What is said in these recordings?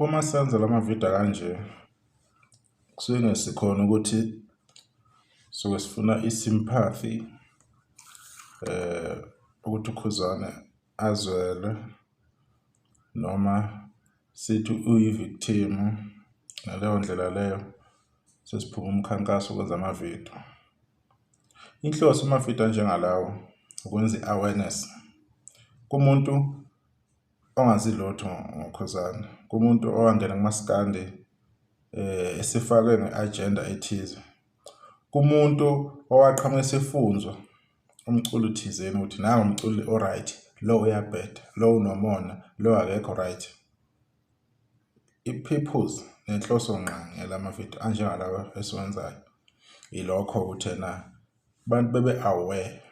Uma senza lama video kanje kusuke ngesikhona ukuthi suke sifuna i-sympathy eh ukuthi uKhuzane azwele noma sithi uyi-victim ngaleyo ndlela leyo sesiphuma umkhankaso ukwenza amavidiyo. Inhloso yamavidiyo anjengalawo ukwenza i-awareness kumuntu ongazi lutho ngokhuzane, kumuntu owangena kumaskandi eh esifakwe nge-agenda ethize, kumuntu owaqhamuka esifunzwa umculo thizeni ukuthi nangu umculi o-right, lo uyabheda, lo unomona, lo akekho right. I-purpose nenhloso ngqangi yalamavidiyo anjengalawa esiwenzayo ilokho ukuthena abantu bebe aware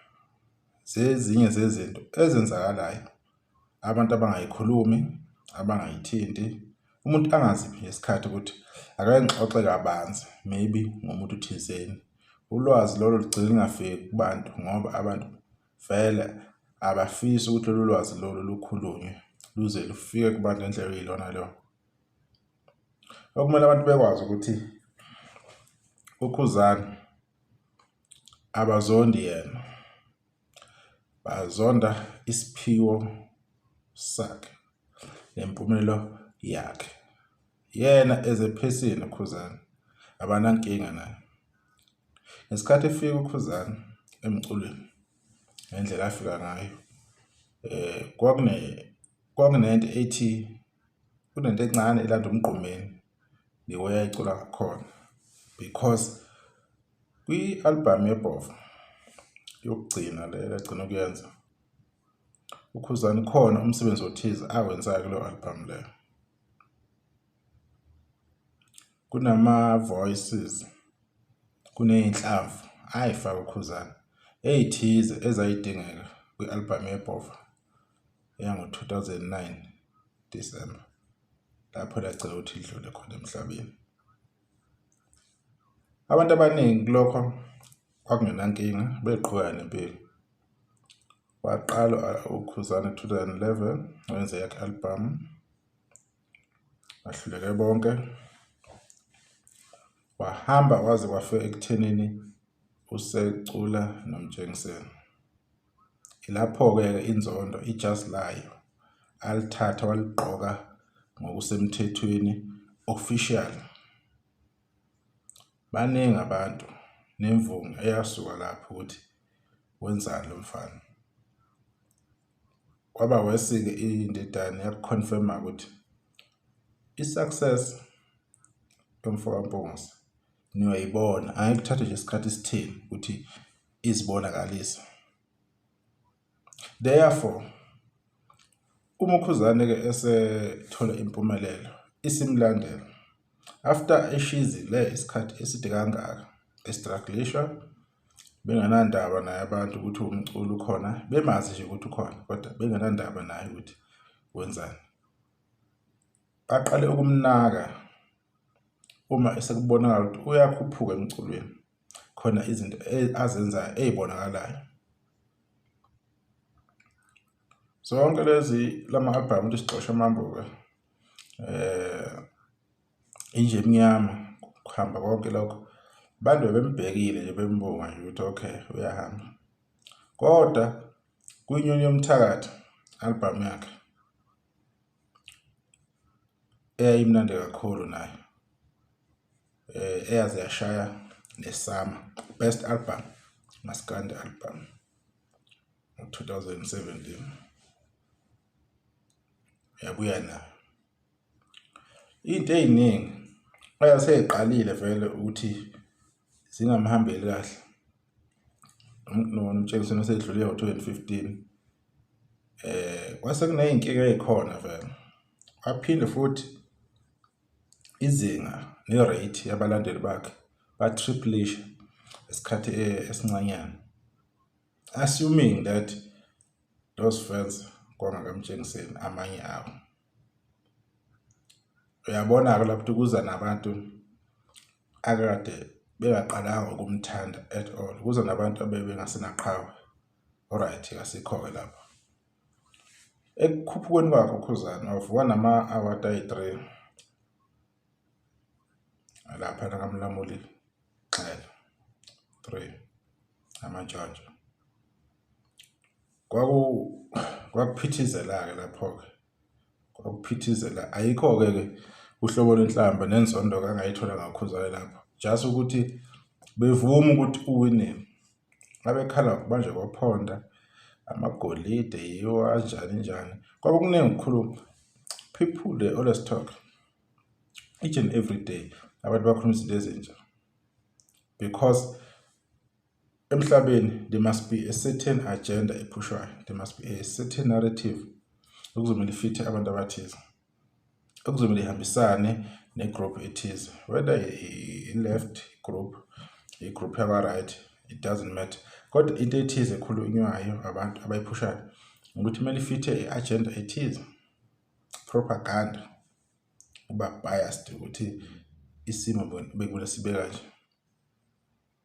zezinye zezinto ezenzakalayo abantu abangayikhulumi abangayithinti umuntu angaziphi ngesikhathi ukuthi akangixoxe kabanzi maybe ngomuntu thizeni ulwazi lolo lugcina lingafiki kubantu ngoba abantu Vele abafisi ukuthi lolu lwazi lolu lukhulunywe luze lufike kubantu ngendlela okuyilona lona. Okumele abantu bekwazi ukuthi uKhuzani abazondi yena, bazonda isiphiwo sakhe nempumelelo yakhe. Yena ezephesini uKhuzani abanankinga naye. Ngesikhathi efika uKhuzani emculweni ngendlela afika ngayo eh kwakune kwakunento ethi kunento encane elanda umgqumeni ngiweya icula khona because kwi-albhamu yebhova yokugcina le agcina ukuyenza ukhuzani khona umsebenzi othize awenzayo kuleyo albhamu leyo Kunama-voices, kuney'nhlamvu, hhayi faka uKhuzani, ey'thize ezayidingeka kwi-albhamu yeBhova yango-2009 December lapho lacela ukuthi lidlule khona emhlabeni. Abantu abaningi kulokho kwakungenankinga beqhubeka nempilo. Waqala uKhuzani 2011 wenze yakhe albhamu bahluleke bonke wahamba waze kwafika ekuthenini usecula nomtshengiseni ilapho-ke inzondo ijazi layo alithatha waligqoka ngokusemthethweni official baningi abantu nemvunga eyasuka lapho ukuthi wenzani lo mfana Kwaba worse-ke indidane yakuconfirma ukuthi i-success yomfoka Mpungose niyoyibona, angeke kuthathe nje isikhathi esitheni ukuthi izibonakalise. Therefore, uma uKhuzane-ke esethola impumelelo isimlandela after eshizi le isikhathi eside kangaka estrugglishwa benganandaba naye abantu ukuthi umculi ukhona bemazi nje ukuthi ukhona kodwa benganandaba naye ukuthi wenzani baqale ukumnaka uma esekubonakala ukuthi uyakhuphuka emculweni khona izinto e-, azenzayo ezibonakalayo zonke lezi lama albhamu ukuthi sixoshe amambuka eh inja emnyama kuhamba konke lokho abantu bebembhekile nje bembonga nje ukuthi okay uyahamba kodwa kwinyoni yomthakathi album yakhe eyayimnandi kakhulu nayo eh eyaze yashaya nesama best album maskandi album 2017 yabuya nayo Into ey'ningi eyasey'qalile vele ukuthi zingamhambeli kahle uMtshekiseni osedlule ngo-twenty fifteen. Kwase kuney'nkinga ey'khona vele, aphinde futhi izinga ne-rate yabalandeli bakhe ba-triplish-a isikhathi esincanyana. Assuming that those fans kwangaka Mtshengiseni amanye awo. uyabona-ke lapho ukuthi kuza nabantu akade bengaqalanga ukumthanda at all kuza nabantu abebengasenaqhawe alright kasikho-ke lapho ekukhuphukweni kwakhe ukhuzana wavuka nama-award ayi-three lapha nakamlamuli xela three amantshontsho Kwaku kwakuphithizela-ke lapho-ke. Kwakuphithizela. Ayikho-ke ke uhlobo lwenhlamba nenzondo kangayithola ngakhuzane lapho. Just ukuthi bevuma ukuthi uwinile. Abekhala manje kwaphonda amagolide yiwo anjani njani. Kwakukuningi kukhulu people they always talk each and every day abantu bakhuluma izinto ezintsha because Emhlabeni there must be a certain agenda ephushwayo, there must be a certain narrative okuzomele ifithe abantu abathize. Okuzomele ihambisane negroup ethize, whether i-left group, i-group yakwa-right, it doesn't matter. Kodwa into ethize ekhulunywayo abantu abayiphushayo ukuthi kumele ifithe i-agenda ethize, propaganda, uba biased ukuthi isimo bekumele sibe kanje.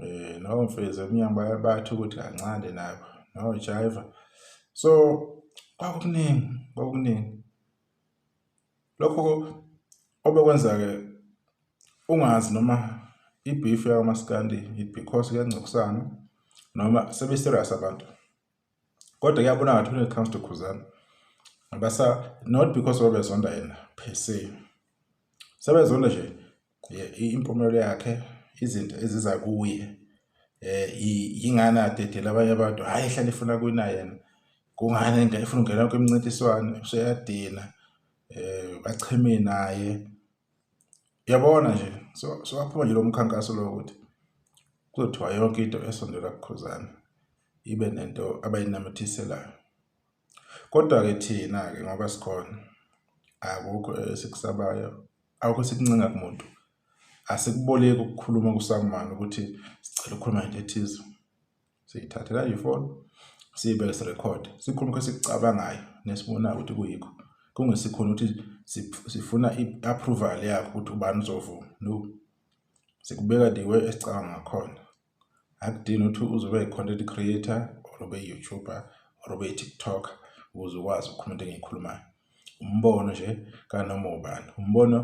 Eh no mfezi emnyango bayabathi ukuthi kancane nabo. No jiva. So kwakuningi kwakuningi. Lokho obekwenza ke ungazi noma ibeef yakwaMaskandi it because kuyangcokusana noma sebe serious abantu. kodwa kuyabona ngathi when it comes to khuzana basa not because babezonda yena per se sebezonda nje impumelelo yakhe izinto eziza kuye eh yingani adedela abanye abantu hayi ehlale efuna kuyina yena kungani into efuna ungena kwimncintiswano useyadina eh bacheme naye Uyabona nje so sowaphuma nje lo mkhankaso lo ukuthi kuzothiwa yonke into esondela kuKhuzani ibe nento abayinamathiselayo. Kodwa-ke thina-ke ngoba sikhona akukho esikusabayo, akukho esikuncenga kumuntu. Asikuboleki ukukhuluma kuSangman ukuthi sicela ukukhuluma ngento ethize. siyithathe kanje ifoni siyibeke sirekhode sikhulume esikucabangayo nesibonayo ukuthi kuyikho kungesikhona ukuthi sifuna i-approval yakho ukuthi ubani uzovuma no sikubeka the way esicabanga ngakhona akudini ukuthi uzobe yi-content creator or ube yi-youtuber or ube yi-tiktoker ukuze ukwazi ukukhuluma into engiyikhulumayo umbono nje kanoma ubani umbono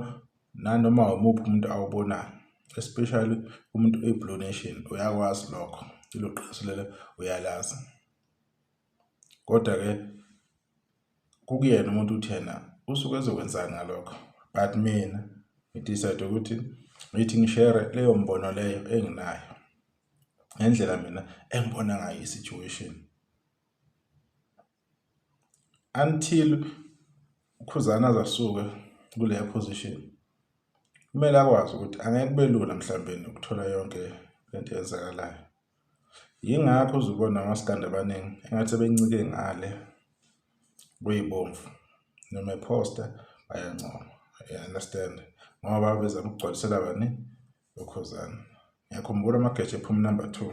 nanoma umuphi umuntu awubonayo especially umuntu oyi-blue nation uyakwazi lokho ilo qiniso lelo uyalazi kodwa-ke kukuyena umuntu uthi yena usuke ezokwenzani ngalokho but mina ngidecide ukuthi ngithi ngishere leyo mbono leyo enginayo ngendlela mina engibona ngayo i-situation until ukhuzana azasuke kuleya position kumele akwazi ukuthi angeke kube lula mhlawumbe ukuthola yonke lento eyenzakalayo yingakho uzubona amasikandi abaningi engathi sebencike ngale kuyibomvu noma ephosta bayancoma you understand ngoba bezama ukugcwalisela bani ukhuzana ngiyakhumbula amageja ephuma number two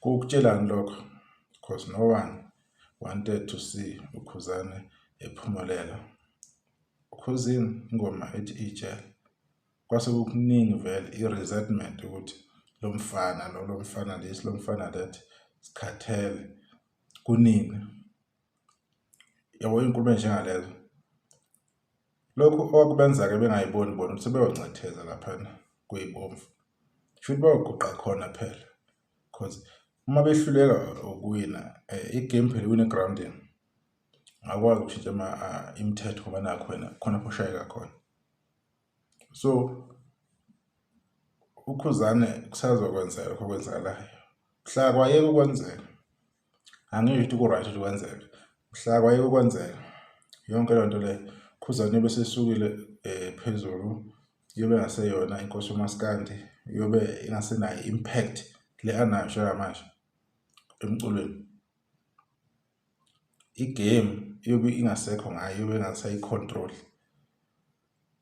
Kukutshelani lokho? Cos no one wanted to see uKhuzane ephumelela. Khuzini ingoma ethi ijele. Kwase kukuningi vele i-resentment ukuthi lo mfana lo lo mfana this lo mfana that sikhathele kunini yabo inkulumo enjengalezo Lokhu okwakubenza-ke bengayiboni bona ukuthi sebeyoncetheza laphana kuyibomvu. Shuthi bayoguqa khona phela because uma behluleka ukuwina eh, i-game phela iwine grounding akwazi ukushintsha ama ah, imithetho ngoba nakho wena khona pho ushayeka khona so ukhuzane kusazokwenzeka lokho okwenzakalayo mhla kwayeka ukwenzeka angisho ukuthi ku-right ukuthi kwenzeke mhla kwayeke kwenzeka yonke loo nto leyo khuzane yobe sesukile um eh, phezulu yobe ngaseyona inkosi umaskandi yobe ingasenayo impact le anayo njengamanje emculweni igame yobe ingasekho ngayo yobe ingasayicontrol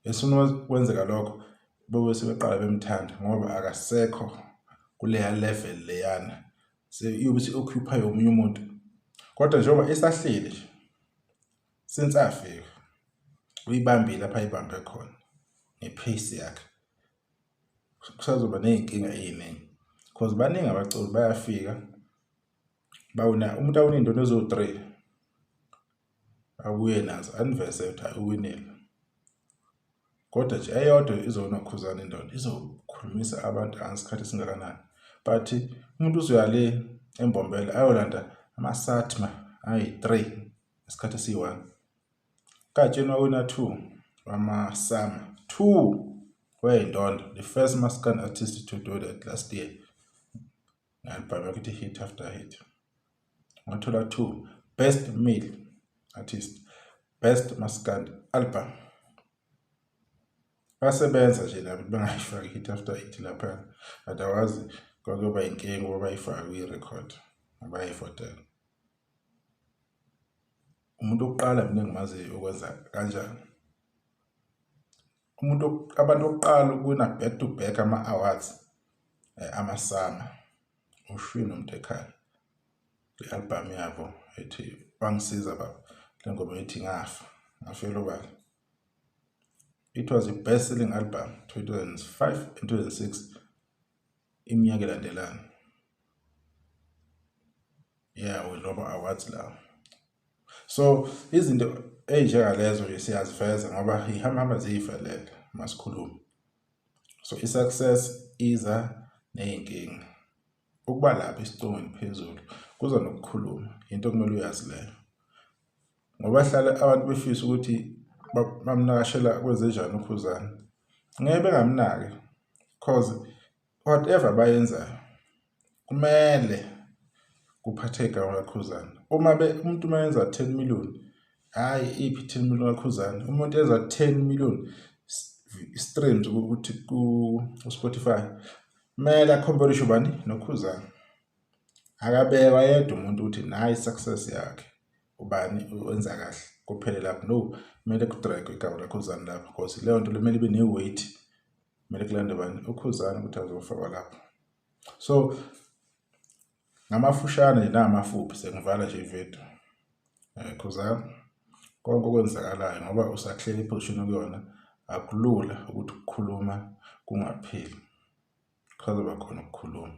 Esifuna kwenzeka lokho bebe sebeqala bemthanda ngoba akasekho kuleya level leyana seyobe se-occupy omunye umuntu kodwa njengoba esahleli nje since afika uyibambile lapha ayibambe khona nge-pace yakhe kusazoba ney'nkinga ey'ningi because baningi abaculi bayafika bawuna umuntu awunindoni eziwu-three Abuye nazo aniveze ukuthi hayi uwinile. Kodwa nje eyodwa izonokhuzana indoda izokhulumisa abantu angesikhathi esingakanani. But umuntu uzoya le embombela ayolanda amasatma ayi-3 isikhathi esiyi-1. Katshenwa wina 2 wamasama 2 wayindondo the first maskand artist to do that last year. Ngalibhame ukuthi hit after hit. wathola 2 best male artist best maskandi album basebenza nje labo bengayifaki hit after hit lapha but awazi kwakuyoba inkinga ukuba bayifake kwi-record abayifotela umuntu okuqala mina engimaziyo ukwenza kanjani umuntu abantu okuqala ukuwina back to back ama-awards um eh, amasama ushwini umuntu ekhaya le album yabo ethi bangisiza baba le ngoma ethi ngafa ngafela ubala it was the best selling album 2005 and 2006 iminyaka elandelana yeah we lobo awards lawo so izinto ey'njengalezo nje siyazifeza ngoba ihambahamba ziyivelele masikhulume so i-success iza ney'nkinga ukuba lapha isicungo ngiphezulu kuza nokukhuluma into okumele uyazi leyo ngoba hlale abantu befisa ukuthi bamnakashela kwezenjani ukhuzana ngeke bengamnaki cause Whatever abayenzayo kumele kuphathe igama kaKhuzana. Uma be umuntu uma yenza 10 million, hhayi iphi 10 million kaKhuzana. Umuntu enza 10 million streams ukuthi ku-Spotify kumele akhombe lisho bani noKhuzana. Akabekwa yedwa umuntu ukuthi nayi success yakhe ubani wenza kahle kuphele lapho no kumele kudragwe igama laKhuzana lapho because leyo nto lemele ibe ne-weight kumele kulande bani ukhuzani ukuthi azofakwa lapho so ngamafushane nje namafuphi sengivala nje ividiyo um eh, khuzani konke okwenzakalayo ngoba usahleli iphozishini okuyona akulula ukuthi ukukhuluma kungapheli kusazoba khona ukukhuluma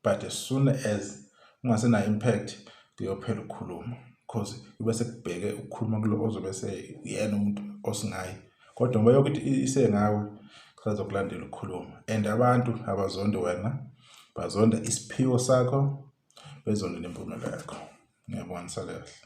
but as soon as ungasenayo impact kuyophela ukukhuluma because kube sekubheke ukukhuluma kulo ozobe seyena umuntu osingayi kodwa ngoba yokuthi isengawe sazokulandela ukukhuluma and abantu abazonde wena bazonda isiphiwo sakho bezonde nempumela yakho ngiyabona sakahle